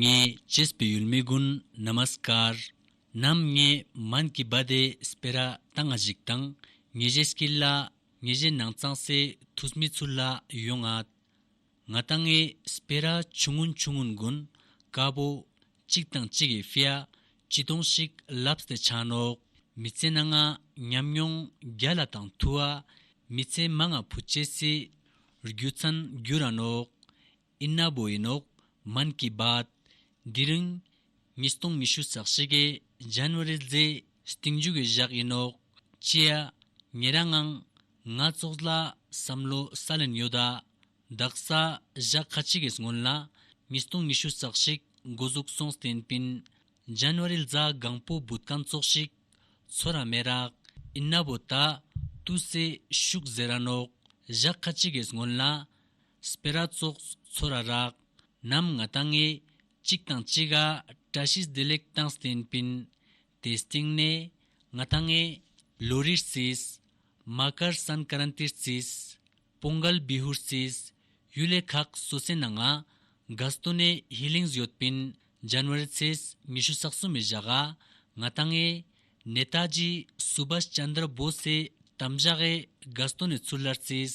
ངས་ཇེས་བོད་ཡུལ་མི་ཀུན Namaskar། ནམ་ངས་མན་གི་བ་དེ་སྤེ་ར་ད་ང་ཞིག་དང་ངེ་ཞེས་སྐྱིད་ལ་ངེ་ཞེས་ནང་ཚང་སེ་ཐུས་མི་ཚུར་ལ་ཡོ་ང་ད་ང་ད་ངས་སྤེ་ར་ཆུང་ངུ་ཆུང་ངུ་མགུན་དཀའ་བོ་གཅིག་དང་གཅིག་གི་ཧྥེ་ཡ་ཅི་ཏོང་ཞིག་ལབས་སྟེ་ཆང་ནོག་མི་ཚེ་ན་ང་ཉམས་མྱོང་བརྒྱ་ལ་དང་ཐུ་བ་མི་ཚེ་མ་ང་བུ་བྱེད་སི་རྒྱུ་ཚན་རྒྱུ་ར་ནོག་ཨིན་ན་བོ་ཡིན་ནོག་མན་གི་བཱད། འདི་རིང། ཉིས་སྟོང་ཉི་ཤུ་རྩ་གཅིག་གི January རྫི། སྟེང་རྒྱུད་ཀྱི་བཞག་ཡིན་ནོག་ཅེ། ངེད་རང་ཨང། ང་ཙོག་ལ་བསམ་བློ་ས་ལེན་ཡོད་ད། བདག་ས་བཞག་ཁ་ཅིག་གིས་སྔོན་ལ། ཉིས་སྟོང་ཉི་ཤུ་རྩ་གཅིག་འགོ་གཟུགས་སོང་སྟེན་པིན། January རྫ་སྒང་པོ་བུ་ཀན་ཙོག་ཞིག། ཚོ་ར་མེད་རག་ཨིན་ན་བོ་ད། ཏུ་སེ་ཤུག་ཟེར་ར་ནོག་བཞག་ཁ་ཅིག་གིས་སྔོན་ལ། སྤེ་ར་ཙོག་ཚོ་ར་རག། ནམ་ང་ད་ངེས། གཅིག་དང་གཅིག་ག་བཀྲ་ཤིས་བདེ་ལེགས་དང་སྟན་པིན། དེ་སྟེང་ནས། ང་ད་ངེས། ལོ་རིར་བརྩིས། མ་ཀར་སན་ཀ་རན་ཏིར་བརྩིས། པོང་གལ་བི་ཧུར་བརྩིས། ཡུལ་ལས་ཁག་སོ་སའི་ནང་ང། དགའ་སྟོ་ནས་ཧི་ལིང་བཟོད་པིན། ཇན་ཝ་རི་ཚེས་ཉི་ཤུ་སག་སུ་མི་བཞག་ག། ང་ད་ངེས། ནེ་ཏཱ་ཇི་སུ་བྷ་སི་ཅཱན་དྲ་བོ་སེ་དམ་བཞག་གས་དགའ་སྟོ་ནས་ཚུར་ལར་བརྩིས།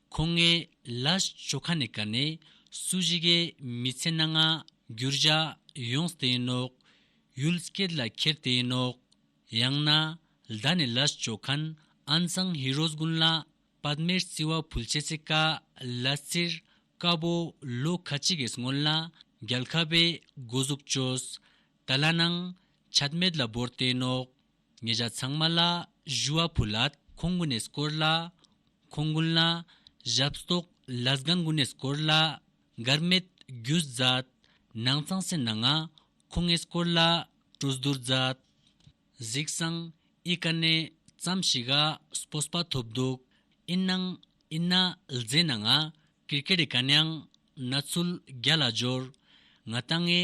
ཁོང་ངའི་ལྭས་ཇོ་ཁ་ནས་བཀར་ནས་སུ་གཞི་གའི་མི་ཚེ་སྣ་ལྔ་བསྒྱུར་བཞག་ཡོངས་དེ་ཡིན་ནོག་ཡུལ་སྐད་ལ་ཁྱེར་དེ་ཡིན་ནོག་ཡང་ན་ཟླ་ནས་ལྭས་ཇོ་ཁན་ཨན་ཙང་ཧི་རོས་དགུན་ལ་པད་མའི་རྩི་བ་ཕུལ་བྱེད་ཚེ་ཀ་ལ་རྩིར་དཀར་པོ་ལོ་ཁ་གཅིག་གིས་སྔོན་ལ་རྒྱལ་ཁ་པའི་སྒོ་གཟུགས་བཅོས་ད་ལ་ནང་ཆ་རྨད་ལ་བོར་དེ་ཡིན་ནོག་ངེད་ཅག་ཚང་མ་ལ་བཞུ་བ་ཕུལ་ལ་ཁོང་དགོན་ནས་བསྐོར་ལ། ཁོང་དགོན་ལ་ཞབས་ཏོག་བླ་སྒང་དགོན་ནས་བསྐོར་ལ། མགར་མེད་རྒྱུ་མཛད། ནང་ཚང་སེར་ནང་ང་ཁོང་ངས་བསྐོར་ལ་སྤྲོ་བསྡུར་མཛད། གཟིགས་སང་ཨི་ཀ་ནས་ཙམ་ཞིག་ག་སྤོ་སྤ་ཐོབ་འདུག་ཨི་ནང་ཨི་ན་ལྫེ་ན་ང་ཀིར་ཀེ་རི་ཀ་ནང་ན་ཚུལ་རྒྱ་ལ་འབྱོར། ང་ད་ངའི་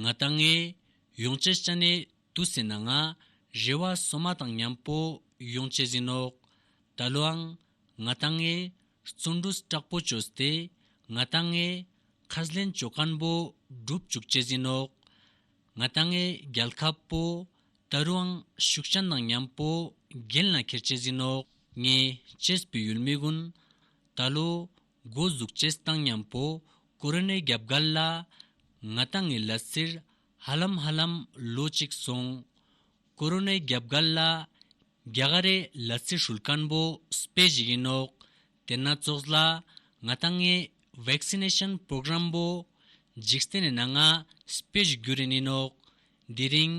ང་ལྟ་ངའི། ཡོངས་བཅད་སྤྱན་ནས་དུ་ཟིན་ན་ང། རེ་བ་སོ་མ་དང་མཉམ་པོ་ཡོངས་བཅད་ཟིན་ནོ། ད་ལོའང། ང་ལྟ་ངའི། བརྩོན་འགྲུས་སྐྲག་པོ་བཅོས་སྟེ། ང་ལྟ་ངའི། ཁ་ཟླན་བཅོས་སྐམ་པོ་སྒྲུབ་བཅུག་བཅད་ཟིན་ནོ། ང་ལྟ་ངའི་རྒྱལ་ཁ་པོ། ད་རུའང་ཤུགས་སྤྱན་དང་མཉམ་པོ་རྒྱན་ལ་ཁྱེར་བཅད་ཟིན་ནོ། ངས་བཅད་པའི་ཡུལ་མི་དགོན། ད་ལོའི་མགོ་གཟུགས་བྱེད་སྟངས་མཉམ་པོ་ཀོ་རི་ནའི་རྒྱབ་སྒར་ལ། ང་ལྟ་ངའི་ལ་སིར་ཧ་ལམ་ཧ་ལམ་ལོ་གཅིག་སོང། ཀོ་རི་ནའི་རྒྱབ་སྒར་ལ། རྒྱ་གར་རེད་ལ་སི་ཧྲུལ་དཀར་མོ་སྤེལ་བཞིན་ཡིན་ནོག་དེ་སྣ་ཚོགས་ལ། ང་ལྟ་ངའི Vaccination Program པོ་འཇིག་རྟེན་ནས་ན་ང་སྤེལ་བཞུ་རྒྱུ་རེད་ནི་ནོག་དེ་རིང།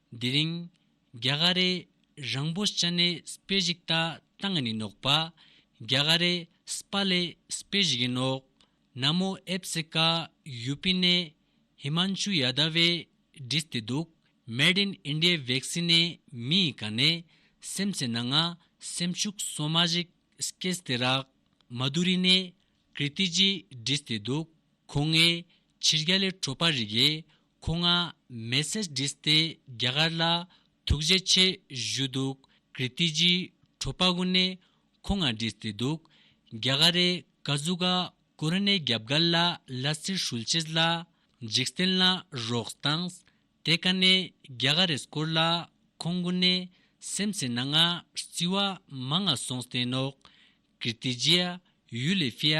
དེ་རིང། རྒྱ་ག་རེ། རང་བོ་ཅ་ནེ་སྤེ་བཞིག་ད་ད་ང་ནི་ནོག་པ། རྒྱ་ག་རེ། སྤ་ལེ་སྤེ་བཞིག་གི་ནོག། ན་མོ་ཨེབ་སི་ཀ། ཡུ་པི་ནེ། ཧི་མན་ཆུ་ཡ་ད་བའི། འདྲིས་ཏེ་འདུག། མེད་དིན་ཨིནྡིའི་བེག་སི་ནེ་མི་ཡི་ག་ནེ། སེམས་སེ་ན་ང། སེམས་ཤུག་སོ་མ་བཞིག་སྐེ་སི་ཏེ་རག། མ་དུ་རི་ནེ། ཀིར་ཏི་ཇི་འདྲིས་ཏེ་འདུག། ཁོ་ངའི། ཕྱིར་རྒྱ་ལེ་བྲོ་པ་རིག་ཡེ། ཁོ་ང་མེ་སེ་སྒྲིས་ཏེ་རྒྱ་གར་ལ་ཐུགས་རྗེ་ཆེ་ཞུས་འདུག་ཀིར་ཏི་ཇི་ཁྲོ་པ་ཀུ་ནས་ཁོ་ང་སྒྲིས་ཏེ་འདུག་རྒྱ་གར་རེ་ཀ་ཟུ་ག་ཀུ་ར་ནས་རྒྱབ་གར་ལ་ལ་སིར་ཧྲུལ་ཆེས་ལ་འཇིག་རྟེན་ལ་རོགས་དངས་དེ་ག་ནས་རྒྱ་ག་རེ་སྐོར་ལ་ཁོང་ཀུ་ནས་སེམས་ཚེ་ན་ང་བརྩི་བ་མ་ང་སོང་སྟེ་ནོག་ཀིར་ཏི་ཇི་ཡ་ཡུལ་ལེ་ཕི་ཡ་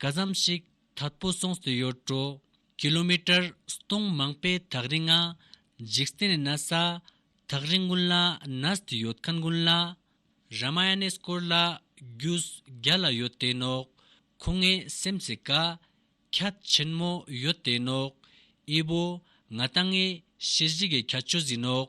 ག་ཙམ་ཞིག་དྭགས་པོ་སོང་སྲིད་ཡོད་དྲོ། ཀི་ལོ་མི་ཀྲར་སྟོང་མང་པའི་དྭགས་རི་ང། འཇིག་རྟེན་ནི་ན་བཟའ་དྭགས་རི་དགུན་ལ་ན་སྲིད་ཡོད་མཁན་དགུན་ལ། ར་མ་ཡ་ནས་སྐོར་ལ་རྒྱུས་རྒྱ་ལ་ཡོད་དེ་ནོག། ཁོ་ངའི་སེམས་ཀྱི་ཀ་ཁྱད་ཆེན་མོ་ཡོད་དེ་ནོག། ཨི་བོ་ང་ད་ངའི་ཤེས་བཞིག་གི་ཁྱད་ཆོས་ཟིན་ནོག།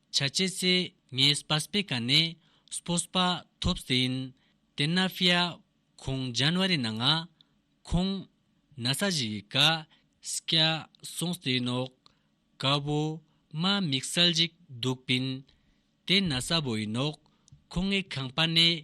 བྱ་བྱེད་ཚེ་ངའི་སྤ་སྤེ་ཀ་ནས་སྤོ་སྤ་ཐོབ་ཟིན། དེ་ན་ཕི་ཡ། ཁོང་ཇན་བ་རི་ན་ང། ཁོང། ན་ས་ཞིག་གི་ཀ། སི་ཀ། སོང་ཟིན་ནོག། ཀ་བོ། མ་མིག་གསལ་ཅིག་འདུག་པིན། དེ་ན་ས་བོ་ཡིན་ནོག་ཁོང་ངའི་ཁང་པ་ནས་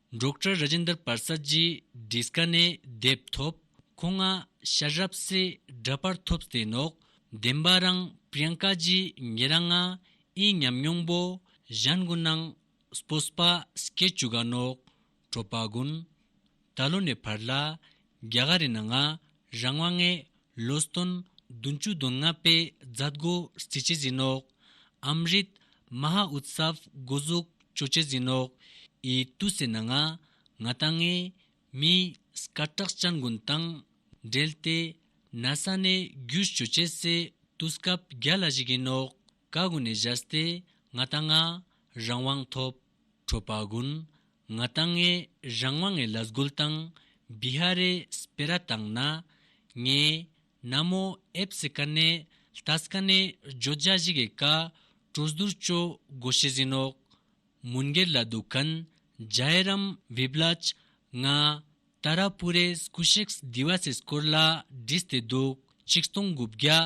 འབྲོག་གྲྭ་ར་ཇེན་དར་བར་ས་རྗེས་འབྲི་སྐ་ནས་དེབ་ཐོབ་ཁོ་ང་ཤ་རབ་གསལ་འདྲ་པར་ཐོབ་ཟེ་ནོག་བདེན་པ་རང་པྲིཡང་ཀ་རྗེས་ངེ་ར་ང་ཨི་ཉམས་མྱོང་པོ་གཞན་གུ་ནང་སྤོ་སྤ་སྐད་ཅུ་ག་ནོག་གྲོ་པ་གུན་ད་ལོ་ནས་བར་ལ་རྒྱ་ག་རི་ན་ང་རང་བ་ངས་ལོ་སྟོན་བདུན་བཅུ་བདུན་ལྔ་པའི་རྫ་སྒོ་རྩི་བྱེ་ཟིན་ནོག། ཨམ་རིད། མ་ཧཱ་ཨུད་སཱ་བྷ་སྒོ་གཟུགས་བཅོ་བྱེ་ཟིན་ནོག། ཨི་ཏུ་སེ་ན་ང། ང་དང་ངའི། མི། སྐ་ཏྲག་སྤྱན་དགོན་དང། འབྲེལ་ཏེ། ན་ས་ནས་རྒྱུད་བཅོ་བྱེ་སེ་ཏུ་སྐབས་བརྒྱ་ལ་བཞི་གིན་ནོག། ཀ་དགོན་ནས་བཞར་ཏེ་ང་དང་ང། རང་དབང་ཐོབ། ཁྲོ་དཔའ་དགུན། ང་དང་ངའི་རང་དབང་ངའི་ལ་སྒོལ་དང། བི་ཧ་རའི་སྤེ་ར་དང་ན། ངའི། ན་མོ་ཨེ་བསི་ཀ་ནེ། ལྟ་སི་ཀ་ནེ། བརྗོད་བྱ་བཞི་གའི་ཀ། གྲུ་ཟླུར་སྤྱོད་སྒོ་ཤི་ཟིན་ཨོག། མུན་སྒེར་ལ་སྡུག་གནས། རྒྱ་ཡེ་རམ་བི་བླ་ཅི། ང། ཏཱ་ར་པུ་རའི་སྐུ་གཤེགས་སྡེ་བ་སའི་སྐོར་ལ་བྲིས་ཏེ་འདུག་གཅིག་སྟོང་དགུ་བརྒྱ་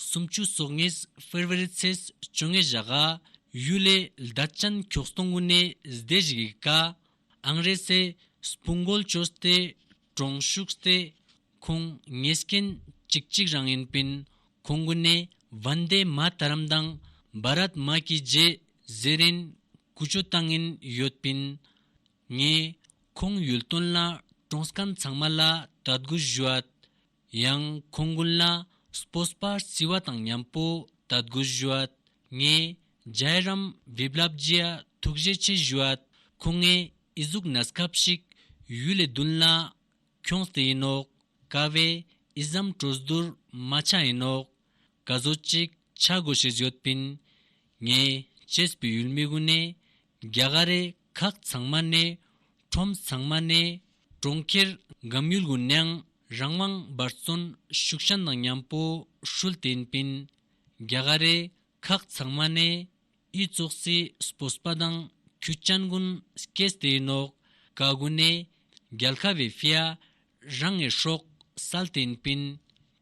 སུམ་ཅུ་སོ་ལྔའི་ཧྥེ་རི་བ་རི་ཚེས་བཅོ་ལྔའི་བཞག་ཨ་ཡུ་ལེ་ལྡ་ཅན་ཁྱོགས་སྟོང་དགུ་ནས་སྡེ་བཞི་གི་ཀ་ཨང་རེ་སའི་སྤུན་མགོ་ལྕོག་སྟེ་གྲོང་ཤུགས་སྟེ་ཁོང་ངེད་སྐྱེན་གཅིག་གཅིག་རང་ཡིན་པིན་ཁོང་དགུ་ནས་བན་དེ་མ་ད་རམ་དང་བ་ར་དམ་གྱི་རྗེས་གཟེར་ཨིན་ཀུ་ཅོ་ཏང་ཨིན་ཡོད་པིན། ངས་ཁོང་ཡུལ་སྟོན་ལ་གྲོང་སྐམ་ཚང་མ་ལ་དྲ་སྒོ་བཞུད། ཡང་ཁོང་དགུན་ལ་སྤོ་སྤར་བརྩི་བ་དང་མཉམ་པོ་དྲ་སྒོ་བཞུད། ངས་རྒྱའི་རམ་བེབ་ལབ་རྗེས་ཐུགས་བཞེད་ཆེ་བཞུད། ཁོ་ངའི་ཨི་གཟུགས་ན་སྐབས་ཤིག་ཡུལ་ལས་བདུན་ལ་ཁྱོངས་ཏེ་ཡིན་ནོ། ཀ་བས་ཨི་ཟམ་སྤྲོ་བསྡུར་མ་ཆགས་ཡིན་ནོ། ཀ་བཟོ་གཅིག་ཆགས་དགོས་ཞེས་བརྗོད་པིན། ངས་བྱེས་པའི་ཡུལ་མི་དགུ་ནས་རྒྱ་གར་རེ་ཁག་ཚང་མ་ནས་ཁྲོམ་ཚང་མ་ནས་གྲོང་ཁྱེར་འགམ་ཡུལ་གུ་ནང་རང་དབང་འབར་བརྩོན་ཤུགས་ཞན་དང་མཉམ་པོ་ཧྲུལ་བསྟན་པིན་རྒྱ་གར་རེ་ཁག་ཚང་མ་ནས་དབྱི་ཙོག་སི་སྤོ་སྤ་དང་ཁུ་སྐྱན་གུན་སྐྱེས་སྟེ་ནོག་ག་གུ་ནས་རྒྱལ་ཁ་བའི་ཧྥེ་ཡ་རང་ངས་ཧྲོག་སལ་བསྟན་པིན་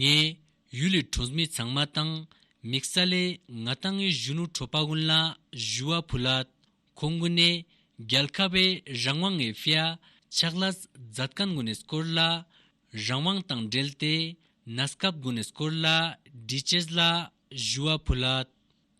ངས་ཡུལ་ལས་གྲོངས་མི་ཚང་མ་དང་མིག་ས་ལས་ང་དང་ངའི་གཞོན་ནུ་གྲོགས་པ་ཀུན་ལ་ཞུ་བ་ཕུལ། ཁོ་ངོ་ནས་རྒྱལ་ཁ་བའི་རང་དབང་ངའི་ཧྥེ་ཕྱག་ལ་ཛད་དཀན་དགོན་ནས་སྐོར་ལ་རང་དབང་དང་འབྲེལ་ཏེ་ནཱ་སྐབས་དགོན་ནས་སྐོར་ལ་འདྲི་བྱེད་ལ་ཞུ་བ་ཕུལ།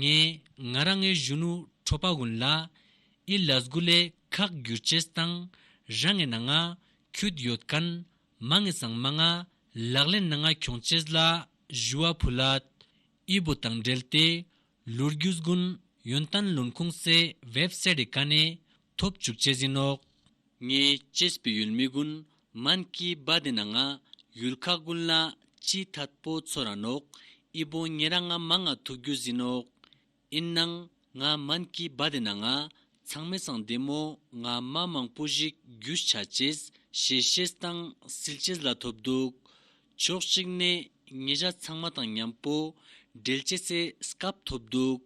ངས་ང་རང་ངའི་གཞོན་ནུ་ཁྲོ་པ་ཝུན་ལ་ཨི་ལ་སྒུ་ལའི་ཁག་བསྒྱུར་བྱས་སྟངས་རང་ངའི་ན་ང་ཁྱོད་ཡོད་གན་མ་ངའི་སང་མ་ང་ལག་ལེན་ན་ང་གྱོང་བྱས་ལ་བཞུ་བ་བུ་ལ་ཨི་བུ་དང་འབྲེལ་ཏེ་ལུར་རྒྱུ་སྒུན་ཡོན་ཏན་ལུན་ཁུང་སའི་བེབ་སའི་རི་ག་ནས་ཐོབ་བཅུག་བྱས་ཟིན་ནོག། ངས་ཅེས་པའི་ཡུལ་མི་ཀུན་མན་གྱི་སྦ་དེ་ན་ང་ཡུལ་ཁ་ཀུན་ལ་ཅི་ཐ་པོ་ཚོ་ར་ནོག་ཨི་པོ་ཉེ་ར་ང་མ་ང་ཐུག་རྒྱུ་བཟི་ནོག་ཨིན་ནང་ང་མན་གྱི་སྦ་དེ་ན་ང་ཚང་མེ་སང་དེ་མོ་ང་མ་མང་པོ་ཞིག་རྒྱུ་ཆ་ཅེས་ཞེས་བཤད་སྟངས་སིལ་ཅེས་ལ་ཐོབ་འདུག་ཕྱོགས་གཅིག་ནས་ཉེ་བཅར་ཚང་མ་དང་མཉམ་པོ་འབྲེལ་བྱེད་སའི་སྐབས་ཐོབ་འདུག་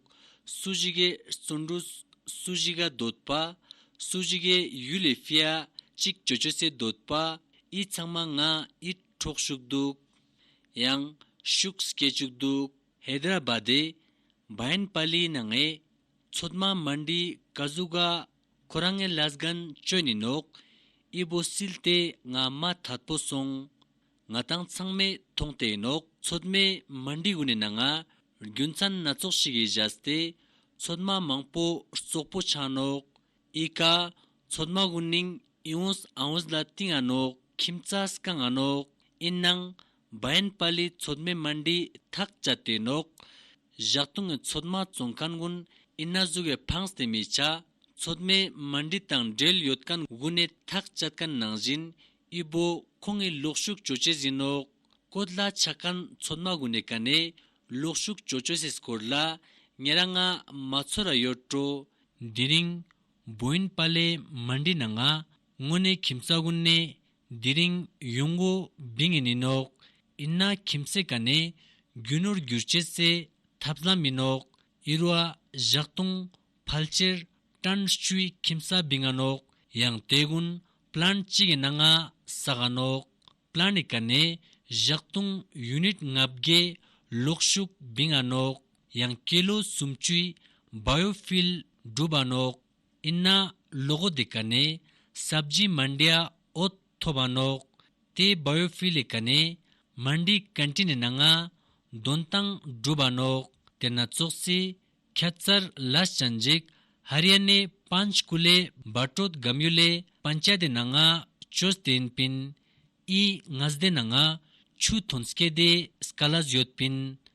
སུ་ཞིག་གི་བརྩོན་འགྲུས་སུ་ཞིག་ག་འདོད་པ་སུ་ཞིག་གི་ཡུལ་ལས་ཧྥེ་ཨ་ཅིག་ཇོ་ཇོ་སེ་འདོད་པ་ཨི་ཚང་མ་ང་ཨི་འཕྲོག་ཞུགས་འདུག་ཡང་ཤུགས་སྐྱེ་བཅུག་འདུག། ཧེ་དར་ར་བྷ་དེ་བྷ་ཡན་པ་ལི་ན་ངས་ཚོད་མ་མ་འདྲིས་ཀ་ཟུག་ག་ཁོ་རང་ངའི་བླ་སྒན་བཅོས་ནས་ནོག། དབྱི་བོ་སིལ་ཏེ་ང་མ་དྷར་པོ་སོང། ང་དང་ཚང་མས་མཐོང་སྟེ་ནོག་ཚོད་མའི་མ་འདི་དབུ་ནས་ན་ང་རྒྱུ་མཚན་སྣ་ཚོགས་ཤིག་གིས་བཞག་སྟེ། ཚོད་མ་མང་པོ་ཙོག་པོ་ཆགས་ནོག། དབྱི་ཀ། ཚོད་མ་དབུ་ནིང་དབྱི་འོས་ཨ་འོས་ལ་ཏིང་ཨ་ནོག་ཁྱིམ་ཙ་སྐ་ང་ནོག་ཨིན་ནང། བན་པ་ལི་ཚོད་མེད་མ་འདྲིས་ཐག་བཅད་དེ་ནོག། བཞག་ལྟུང་ངས་ཚོད་མ་བཙོང་ཁན་དགུན་ཨི་ན་བཟུ་བའི་ཕངས་དེ་མི་བྱ། ཚོད་མེད་མ་འདྲིས་དང་འབྲེལ་ཡོད་ཁན་དགུན་ནས་ཐག་བཅད་ཁན་ནང་བཞིན་དབྱི་བོ་ཁོང་ངས་ལོག་ཞུགས་བྱོས་བྱས་ཟིན་ནོག། ཀོ་ལ་ཆག་ཁན་ཚོད་མ་དགུན་ནས་ཁ་ནས་ལོག་ཞུགས་བྱོས་བྱོས་ཟིས་སྐོར་ལ་ངས་ར་ང་མ་ཚོད་ར་ཡོད་སྤྲོ། འདི་རིང་བོན་པ་ལི་མ་འདྲིས་ན་ང་དངོས་ནས་ཁྱིམ་ས་དགུན་ནས་དེ་རིང་ཡུང་ཝུའུ་བི་ངེ་ནི་ནོག་ཨིན་ན་ཁྱིམ་མཚེས་ཀ་ནས་རྒྱུ་ནོར་བསྒྱུར་བྱེད་རྩེ་ཐབས་ལམ་མི་ནོག་ཨིར་བ་བཞག་ཏུང་ཕལ་ཅེར་ཀྲན་ཧྲུའི་ཁྱིམ་ས་བི་ང་ནོག་ཡང་ཏའེ་གུན་པླན་ཅི་གི་ན་ང་ས་ག་ནོག་པླན་ནི་ཀ་ནས་བཞག་ཏུང་ཡུ་ནིད་ལྔ་བརྒྱད་ལོག་ཤུག་བི་ང་ནོག་ཡང་ཀེ་ལོ་སུམ་བཅུའི་བ་ཡོ་ཕིལ་སྒྲུ་བ་ནོག། ཨིན་ན་ལོ་གོ་དེ་ག་ནས་སབ་ཇི་མན་དྲི་ཨ་ཨོ་ཐོ་བ་ནོག་དེ་བ་ཡོ་ཕི་ལི་ག་ནས་མན་དྲི་གན་ཏྲི་ནི་ན་ང་དོན་དང་འགྲུ་བ་ནོག་དེ་ན་ཙོག་ཙི་ཁྱ་ཙར་ལས་ཅན་འཇིག་ཧ་རི་ཡ་ནས་པན་ཅ་ཀུ་ལས་བ་ཏྲོད་གམ་ཡོ་ལས་པན་ཅ་དེ་ན་ང་ཅོས་ཏིན་པིན་ཨི་ངས་དེ་ན་ང་ཆུ་ཐོན་སྐེ་དེ་སྐ་ལས་ཡོད་པིན་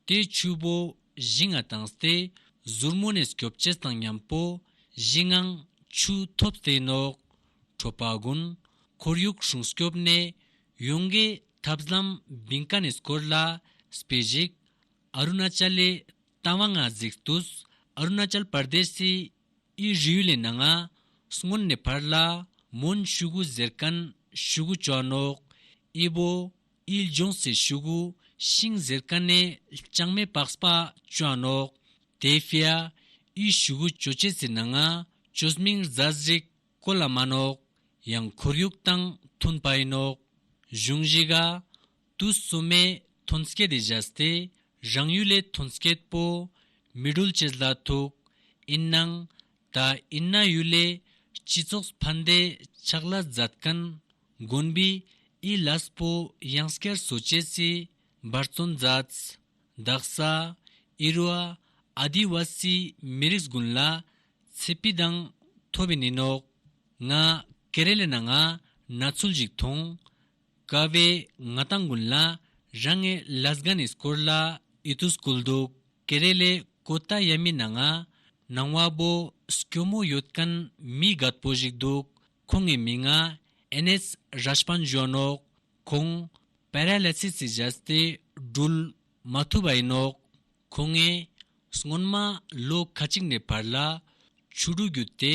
རྟའི་ཆུ་བོ་བཞི་ལྔ་དང་སྟེ། ཟུར་མོ་ནས་སྐྱོབ་བྱེད་བཟང་མཉམ་པོ། བཞི་ལྔའང་ཆུ་ཐོབ་རྩེ་ནོག། ཁྲོ་པ་དགུན། ཁོར་ཡུག་སྲུང་སྐྱོབ་གནས། ཡོངས་ཀྱི་ཐབས་ལམ་བིང་ཀ་ནས་སྐོར་ལ། སྤེལ་གཞིགས། ཨ་རུ་ན་ཅལ་ལི། དང་བ་ལྔ་གཟིགས་བཏུས། ཨ་རུ་ན་ཅལ་པར་དེ་སི། ཨི་རི་ཡུ་ལེ་ན་ལྔ། སྔོན་ནས་བར་ལ། མོན་ཤུ་གུ་གཟེར་ཀན་ཤུ་གུ་བཅོ་ནོག། ཨི་བོ། དབྱིལ་ལྗོངས་སེར་ཤུག། ཤིང་གཟེར་དཀར་ནད། ལྕང་མའི་པགས་སྤ། ཅོ་ཨ་ནོག། དེའི་ཕི་ཨ། དབྱིལ་ཤུག་ཅོ་ལྕེ་རྩི་ན་ང། ཅོ་སྨིང་རྫ་གཟིག། ཀོ་ལ་མ་ནོག། ཡང་ཁོར་ཡུག་དང་ཐུན་པ་ཨི་ནོག། གཞུང་བཞི་ག། དུ་གསུམ་མའི་ཐུན་སྐད་དེ་བཞག་སྟེ་རང་ཡུལ་ལའི་ཐུན་སྐད་པོ། མི་སྒྲུལ་བྱེད་ལ་ཐུག། ཨིན་ནང། ད་ཨིན་ན་ཡུ་ལེ་སྤྱི་ཚོགས་ཕན་བདེ་ཆགས་ལ་མཛད་མཁན་དགོན་པའི་ཨི་ལ་སྤོ་ཡང་སྐལ་བཟོ་བཅས་ཀྱི་འབར་བརྩོན་མཛད། འདག་ས་ཨི་རུ་ཨ་ཨ་དི་བ་སི་མི་རིགས་དགུན་ལ་ཚེ་སྤི་དང་ཐོ་བི་ནི་ནོག་ང་ཀེ་རེ་ལེ་ན་ང་ན་ཚུལ་ཞིག་མཐོང། དགའ་བའི་ང་ལྟ་མགུན་ལ་རང་ངས་ལཱས་གྷ་ནིས་སྐོར་ལ་ཨི་ཏུ་སྐུལ་འདུག་ཀེ་རེ་ལའི་ཀོ་ཏ་ཡ་མི་ནང་ང་ནང་བ་བོ་སྐྱོ་མོ་ཡོད་གན་མི་དགའ་པོ་ཞིག་འདུག་ཁོ་ངའི་མི་ང་ཨེ་ནེས་རཱས་པན་གཞོན་ནོག་ཁོང་པེ་ར་ལ་ཚི་ཚི་བཞད་སྟེ་སྒྲུལ་མ་ཐུབ་ཨེ་ནོག་ཁོ་ངས་སྔོན་མ་ལོ་ཁ་ཅིག་ནས་བར་ལ་ཆུ་འགྲོ་རྒྱུ་དེ་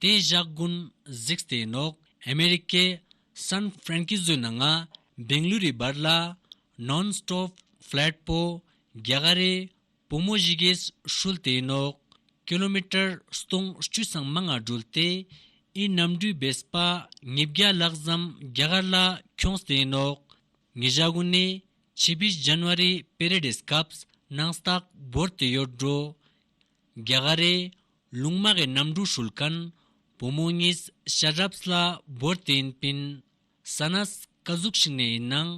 དེ་བཞག་དགུན་གཟིགས་ལྟེ་ནོག་ཨ་མེ་རི་ཀའི་སཱན་ཧྥ་རན་ཀི་ཟོའི་ནང་ང་བེང་ལུ་རི་བར་ལ་ནོན་སྟོབ་ཕླེད་པོ་རྒྱ་གར་རི་བུ་མོ་བཞི་གེ་ཧྲུལ་ལྟེ་ནོག་ཀི་ལོ་མི་ཀྲར་སྟོང་བཅུ་སྲང་མ་ང་སྒྲུལ་ཏེ་ཨི་ནམ་འདུས་བེ་སི་པ་ཉིས་བརྒྱ་ལག་བཟའམ་རྒྱ་གར་ལ་ཁྱོངས་ལྟེ་ནོག་ངེ་བཞག་དགུན་ནི་ཆི་བི་ཇན་བ་རི་པེ་རེ་ལྡེ་སྐབས་ནང་སྟག་འབོར་ལྟེ་ཡོར་འགྲོ་རྒྱ་གར་རི་ལུང་མ་ཧེ་རྣམ་དྲུག་ཧྲུལ་ཀན། བུ་མོ་གཉིས་ཤ་རབས་ལ་བོར་དེ་ཡིན་པིན། ས་ན་སྐ་གཟུགས་ཤིག་ནས་ཡིན་ནང་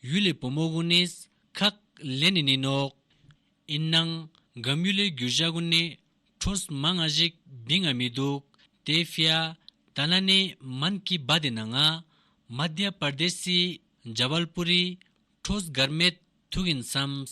ཡུལ་ལས་བུ་མོ་དགུ་ནས་ཁག་ལས་ནས་ནི་ནོག། ཡིན་ནང་སྒམ་ཡུལ་ལས་རྒྱུ་བཞག་དགུ་ནས་ཁྲོས་མ་ལྔ་བཞིག་བི་ང་མི་འདུག་དེ་བྷྱ་དྷ་ལ་ནས་མན་གི་བྷ་དེ་ན་ང། མཱ་དྷྱ་པར་དེ་སི་འཇ་བལ་པུ་རི། ཁྲོས་སྒར་མེད་ཐུག་ཡིན་བསམས།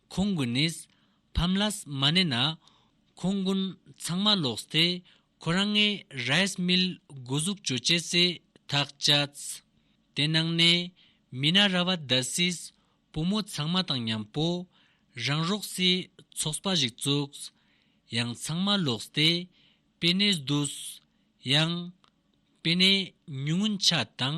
ཁོང་གི་ནིས་ཕམ་ལཱས་མ་གནས་ན་ཁོང་དགུན་ཚང་མ་ལོགས་སྟེ་ཁོ་རང་ངའི་རཱས་མིལ་དགུ་གཟུགས་བཅོས་བྱེད་སའི་ཐག་བཅད། དེ་ནང་ནས་མི་ན་ར་བ་རྡ་སིས་བུ་མོ་ཚང་མ་དང་མཉམ་པོ་རང་རོགས་སའི་ཚོགས་པ་ཞིག་བཙུགས། ཡང་ཚང་མ་ལོགས་སྟེ་པེ་ནེས་བསྡུས། ཡང། པེ་ནེས་ཉུང་ངུ་འཆ་དང།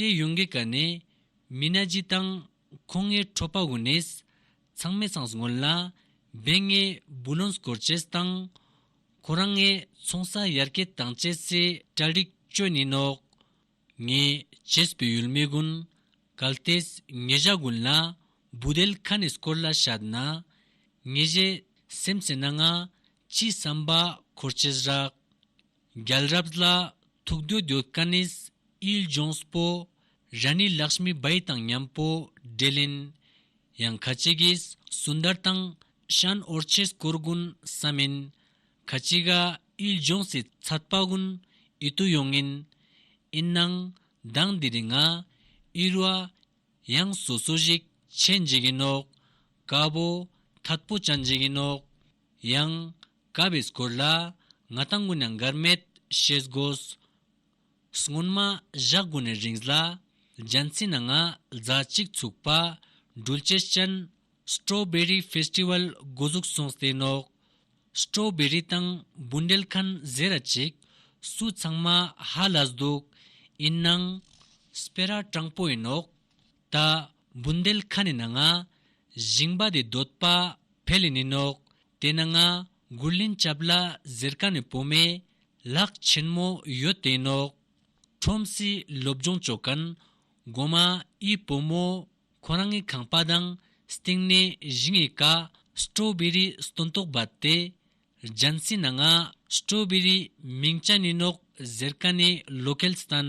ཏེ་ཡོང་གི་ག་ནས་མི་ན་ཇི་དང་ཁོ་ངའི་ཁྲོ་པ་འུ་ནས་ཚང་མས་ཚང་སྔོན་ལ་སྦས་ངའི་བུ་ལོན་སྐོར་བཅས་དང་ཁོ་རང་ངའི་ཚོང་ས་ཡར་སྐྱེད་བཏང་བཅས་སའི་གྲལ་རིགས་བཅོས་ནི་ནོག་ངས་བྱས་བུ་ཡུལ་མི་དགུན་གལ་ཏེ་ངེད་གཞའ་དགུན་ལ་བུ་དལ་ཁ་ནས་སྐོར་ལ་ཤར་ན་ངེད་གཞས་སེམས་ཟེར་ན་ང་ཅི་བསམ་པ་འཁོར་བཅས་རག་རྒྱལ་རབས་ལ་ཐུག་འདོད་འདོད་དཀའ་ནིས་ཨིལ་ལྗོངས་པོ་རཱ་ནི་ལགས་སྨི་སྦའི་དང་མཉམ་པོ་འདྲེ་ལིན་ཡང་ཁ་ཅི་གིས་སུན་དར་དང་ཤཱན་ཨོར་ཆེས་སྐོར་དགུན་ས་མིན་ཁ་ཅི་ག་ཨིལ་ལྗོངས་སི་ཚད་པ་དགུན་ཨི་ཏུ་ཡོང་ངིན་ཨིན་ནང་དང་འདི་རི་ང་ཨིར་བ་ཡང་སོ་སོ་ཞིག་ཆེ་འཇིག་ཡིན་ནོག་དཀའ་པོ་ཐད་པོ་ཅན་འཇིག་ཡིན་ནོག་ཡང། དགའ་བའི་སྐོར་ལ། ང་དང་སྔུན་ན་འགར་མེད་ཞེས་བསྒོས། སྔོན་མ་བཞག་དགུ་ནས་རིངས་ལ། རྒྱལ་མཚན་ནང་ང་རྫ་གཅིག་ཚུགས་པ། འགྲུལ་སྐྱེལ་ཅན། Strawberry Festival། དགུ་གཟུགས་སོང་སྟེ་ནོག། Strawberry། དང་འབུ་འདེད་མཁན་བཟས་ར་ཅིག། སུ་ཚང་མ་ཧ་ལས་འདུག། ཡིན་ནང། སྤེ་ར་དྲང་པོ་ཡིན་ནོག། ད་བུན་དལ་ཁ་ནས་ན་ང། བཞིན་པ་དེ་འདོད་པ་བེ་ལི་ནི་ནོག། དེ་ན་ང་མགུར་ལིན་ཅབ་ལ་ཟེར་ཀ་ནི་བོ་མེ། ལག་ཆེན་མོ་ཡོད་དེ་ནོག། ཁྲོམ་སི་སློབ་སྦྱོང་ཅོ་ཀན། གོ་མ་ཨི་བོ་མོ། ཁོ་རང་ངི་ཁང་པ་དང་སྟེང་ནས་བཞིན་ཡི་ཀ། སྤྲོ་བེ་རི་སྟོན་ཏོག་བ་དེ། རྒྱན་སི་ན་ང། སྤྲོ་བེ་རི་མིང་ཅ་ནི་ནོག་ཟེར་ཀ་ནི་ལོ་ཀེལ་སྟན།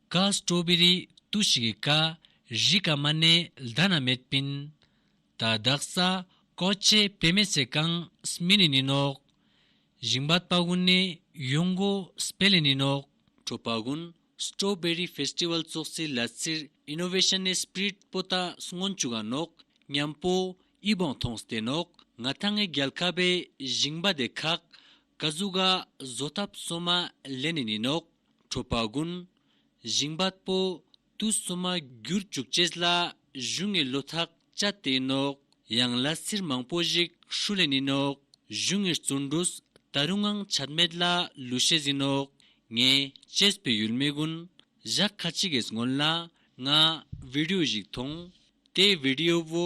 ཀ། སྤྲོ་བི་རི་ཏུ་ཤི་གི་ཀ། རི་ཀ་མ་ནེ་ལྡ་ན་མེད་པིན། ད་དག་ས་ཀོ་ཅེ་པེ་མེ་ཚེ་ཀང་སི་མི་ནི་ནི་ནོག། བཞིང་བ་པ་གུན་ནེ་ཡོང་གོ་སི་པེ་ལེ་ནི་ནོག། ཀྲོ་པ་གུན་སྤྲོ་བི་རི་ཕེས་ཏི་ཝལ་ཙོག་ཙི་ལ་ཙིར་ཨི་ནོ་བེ་ཤན་ནེ་སི་པི་རིད་པོ་ཏ་སྔོན་ཅུ་ག་ནོག་ཉམས་པོ་ཨི་བོང་ཐོང་སི་ཏེ་ནོག་ང་ཐང་ངེ་རྒྱལ་ཁ་བེ་བཞིང་བ་དེ་ཁག་བཀའ་གཟུགས་ཀ་བཟོ་ཐབས་གསོ་མ་ལས་ནི་ནི་ནོག་ཁྲོ་བ་དགུན། བཞིན་བ་སྤོ་ཏུ་གསོ་མ་རྒྱུར་བཅུག་བཅས་ལ་བཞུ་ངེས་ལོ་ཐག་བཅའ་སྟེ་ནོག་ཡང་ལ་སིར་མང་པོ་ཞིག་ཧྲུ་ལས་ནི་ནོག་བཞུ་ངེས་བཙུན་འབྲུ་ད་རུ་ངང་ཆད་མེད་ལ་ལུས་ཤེས་ཟིན་ནོག་ངེས་བཅས་སྤོས་ཡུལ་མེ་དགུན་བཞག་ཁ་ཅིག་གིས་སྔོན་ལ་ང་བི་རིའུ་ཞིག་མཐོང་དེའི་བི་རིའུ་བོ་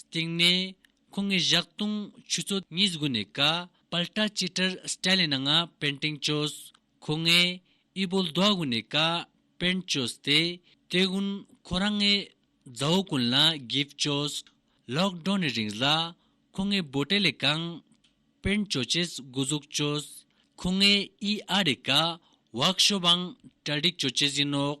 སྟེང་ནས། ཁོ་ངའི་བཞག་བཏུང་ཆུ་ཚོད་གཉིས་སྒུག་ནས་ག། པལ་ཏྲ་ཅི་ཏྲར་སྤྲད་ལེ་ན་ང་པན་ཏིང་ཅོས། ཁོ་ངའི་དབྱི་བོ་ལྡོག་སྒུག་ནས་ག། པན་ཅོས་དེ། དེ་དགུན་ཁོ་རང་ངའི། མཛའ་བོ་ཀུན་ལ་གིབ་ཅོས། ལོག་འགྲོ་ནས་རིང་ལ། ཁོ་ངའི་བུ་སྤྲད་ལེ་གང། པན་ཅོ་ཅེས་སྒུག་གཟུགས་ཅོས། ཁོ་ངའི་དབྱི་ཨ་རེ་ག། བག་ཤོ་བང་ཏྲ་འགྲིག་ཅོ་ཅེས་ཡིན་ནོག།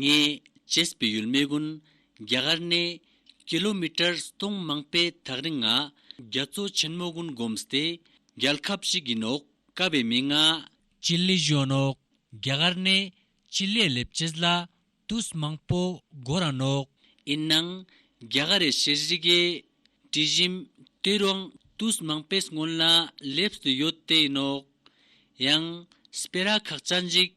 ངས་བྱེས་པའི་ཡུལ་མི་ཀུན་རྒྱ་གར་ནས་ཀི་ལོ་མི་ཀྲར་སྟོང་མང་པའི་ཐག་རིང་ང་རྒྱ་མཚོ་ཆེན་མོ་ཀུན་སྒོམས་ཏེ་རྒྱལ་ཁབ་ཅིག་གི་ནོག་དཀའ་བའི་མི་ང། སྤྱི་ལེ་གཞོན་ནོག་རྒྱ་གར་ནས་སྤྱི་ལེ་ལེབ་བྱེས་ལ་དུས་མང་པོ་སྒོ་ར་ནོག། ཡིན་ནང་རྒྱ་གར་རེ་ཤེས་རི་གའི་དྲི་བཞིན་དུས་རོང་དུས་མང་པའི་སྔོན་ལ་ལེབས་སུ་ཡོད་དེ་ནོག། ཡང་སྤེ་ར་ཁག་ཅག་འཇིགས་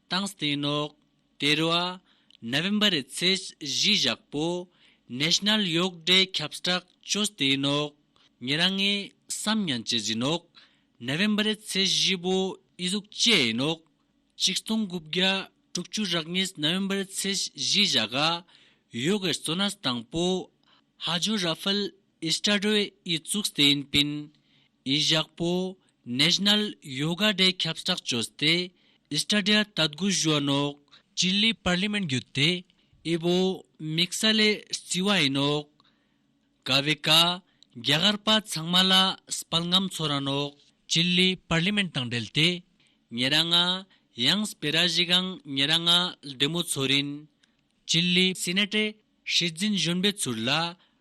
དང་སྟེང་ནོག། དེར་བ། November རེད་ཚེས་བཞི་བཞག་པོ། National གཡོག་འདྲེ་ཁྱབ་སྐྲག་ཅོ་སྟེང་ནོག། ངེད་རང་ངའི་བསམ་ཡང་བྱེད་ཟིན་ནོག། November རེད་ཚེས་བཞི་བོ་ཨི་གཟུགས་བཅད་ཡིན་ནོག། གཅིག་སྟོང་དགུ་བརྒྱ་དྲུག་བཅུ་རག་གཉིས November རེད་ཚེས་བཞི་བཞག་གཡོག་གེར་སོ་ན་སྟངས་པོ། ཧ་ཇོ་ར་ཧྥལ། ཨི་སྟྲ་རོས་ཨི་བཙུགས་སྟེ་ཨིན་པིན་ཨི་བཞག་པོ National Yoga Day ཁྱབ་བསྒྲགས་བྱོས་སྟེ་ཨི་སྟྲ་རྒྱ་ལྟ་དགུ་བཞོན་ནོག་ཅི་ལི་པར་ལི་མེན་བརྒྱུད་དེ་ཨི་བོ་མིག་ས་ལེ་རྩི་བ་ཡིན་ནོག་ག་བི་ཀ་རྒྱ་གར་པ་ཚང་མ་ལ་སྤལ་ངམ་ཚོ་ར་ནོག་ཅི་ལི་པར་ལི་མེན་དང་འབྲེལ་ཏེ་ཉེ་ར་ང་ཡང་སྤེ་ར་ཞི་གང་ཉེ་ར་ང་ལྡེ་མོ་ཚོ་རིན་ཅི་ལི་སི་ནེ་ཏྲེ་ཧྲི་འཛིན་བཞོན་པའི་ཚུར་ལ་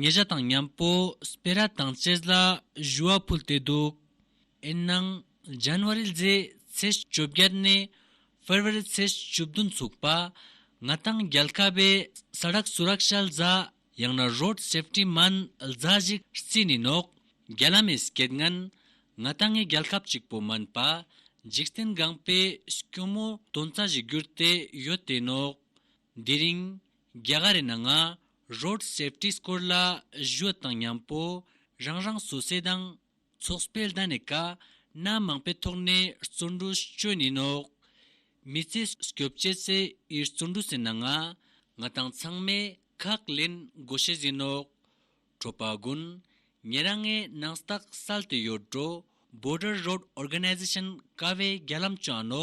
ཉེ་བཞག་དང་མཉམ་པོ་སྤེ་ར་དང་ཅེས་ལ་བཞུ་བ་ཕུལ་ཏེ་འདུག་ཨེན་ནང་ཇཱན་བྷ་རི་ལྗེས་ཚེས་བཅོ་བརྒྱད་ནས་ཧྥེར་བྷེ་རི་ཚེས་བཅུ་བདུན་ཚུགས་པ་ང་དང་རྒྱལ་ཁ་བའི་ས་རག་སུ་རག་ཤལ་རྫ་ཡང་ན་རོད་སེབཏི་མཱན་རྫ་བཞི་རྩིས་ནི་ནོག་རྒྱལ་ཨ་མེས་སྐད་ངན་ང་དང་ངའི་རྒྱལ་ཁབ་གཅིག་པོ་མིན་པ་འཇིག་རྟེན་སྒང་པའི་སྐྱོ་མོ་དོན་རྩ་བཞི་བསྒྱུར་ཏེ་ཡོད་དེ་ནོག་འདི་རིང་རྒྱ་གར་ཨེ་ན་ང Road Safety སྐོར་ལ་གཞོལ་དང་མཉམ་པོ་རང་རང་བཟོ་རྩལ་དང་ཚོགས་སྤེལ་ཟླ་ནས་ཀ་སྣ་མང་པའི་ཐོག་ནས་བརྩོན་འགྲུས་བསྐྱོན་ཡིན་ནོ། མི་ཚེ་སྐྱོབ་བྱེད་ཚེ་ཡི་བརྩོན་འགྲུས་ཟིན་ན་ང་ང་དང་ཚང་མས་ཁག་ལེན་དགོས་ཤེས་ཟིན་ནོ། གྲོགས་པ་དགུན། ངེད་རང་ངའི་ནང་རྟགས་གསལ་དུ་ཡོད་འགྲོ Border Road Organization ཀ་བའི་རྒྱ་ལམ་བཅངས་ནོ།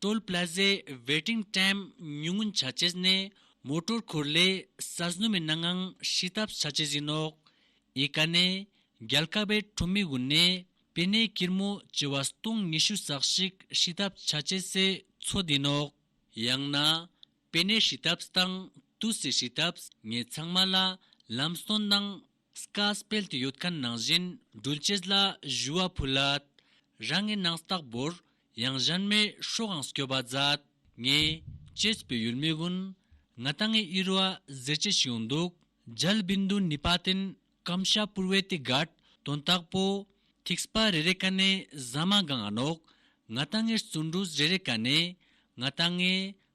Toll Plaza Waiting Time ཉུང་ངུ་བྱ་ཆེད་ནི་མོ་ཏོར་འཁོར་ལེ་གསར་བཟོ་མི་སྣ་ངང་ཧྲིལ་ཐབས་བྱ་ཆེད་ཡིན་ནོ། ཨི་ཀ་ནི་རྒྱལ་ཁབ་པའི་ཁྲོམ་མི་དབུ་ནས་པི་ནའི་སྐྱིར་མོ་བྱེ་བ་སྟོང་ཉི་ཤུ་ཟག་ཞིག་ཧྲིལ་ཐབས་བྱ་ཆེད་སའི་ཚོ་དེ་ནོ། ཡང་ན་པི་ནའི་ཧྲིལ་ཐབས་དང་ཏུའུ་སིའི་ཧྲིལ་ཐབས་ངས་ཚང་མ་ལ་ལམ་སྟོན་གནང། སྐར་སྤེལ་དུ་ཡོད་མཁན་ནང་བཞིན་སྦྲུལ་སྐྱེས་ལ་བཞུ་བ་ཕུལ་ལ། རང་ངའི་ནང་བརྟག་བོར་ཡང་གཞན་མའི་ཧྲོག་ཨང་སྐྱོ་བ་མཛད། ངས་སྐྱེས་པའི་ཡུལ་མི་དབུན་ང་ད་ངའི་དབྱེར་བ་གཟེར་སྐྱེས་ཤིག་ཡོང་འདུག་རྒྱལ་བུས་མདུན་ནུས་པ་བརྟེན་སྐམ་ཤ་བུར་བས་ཏེ་སྒར་དོན་བརྟག་པོ། ཐིག་སྤ་རེ་རེ་ཀ་ནས་ཟ་མ་སྒང་ཨ་ནོག་ང་ད་ངའི་བརྩོན་འགྲུས་རེ་རེ་ཀ་ནས་ང་ད་ངའི་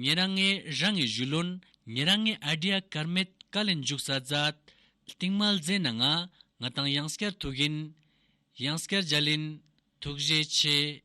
ངེད་རང་ངེད་རང་ངེད་བཞུ་ལོན་ངེད་རང་ངེད་ཨ་དྲིའ་དཀར་མེད་དཀའ་ལས་མཇུག་ས་རྫ། རྟིང་མལ་རྫས་ན་ང་ང་དང་གཡང་སྐྱར་ཐུག་གིན། གཡང་སྐྱར་རྒྱ་ལིན། ཐུགས་རྗེ་ཆེ།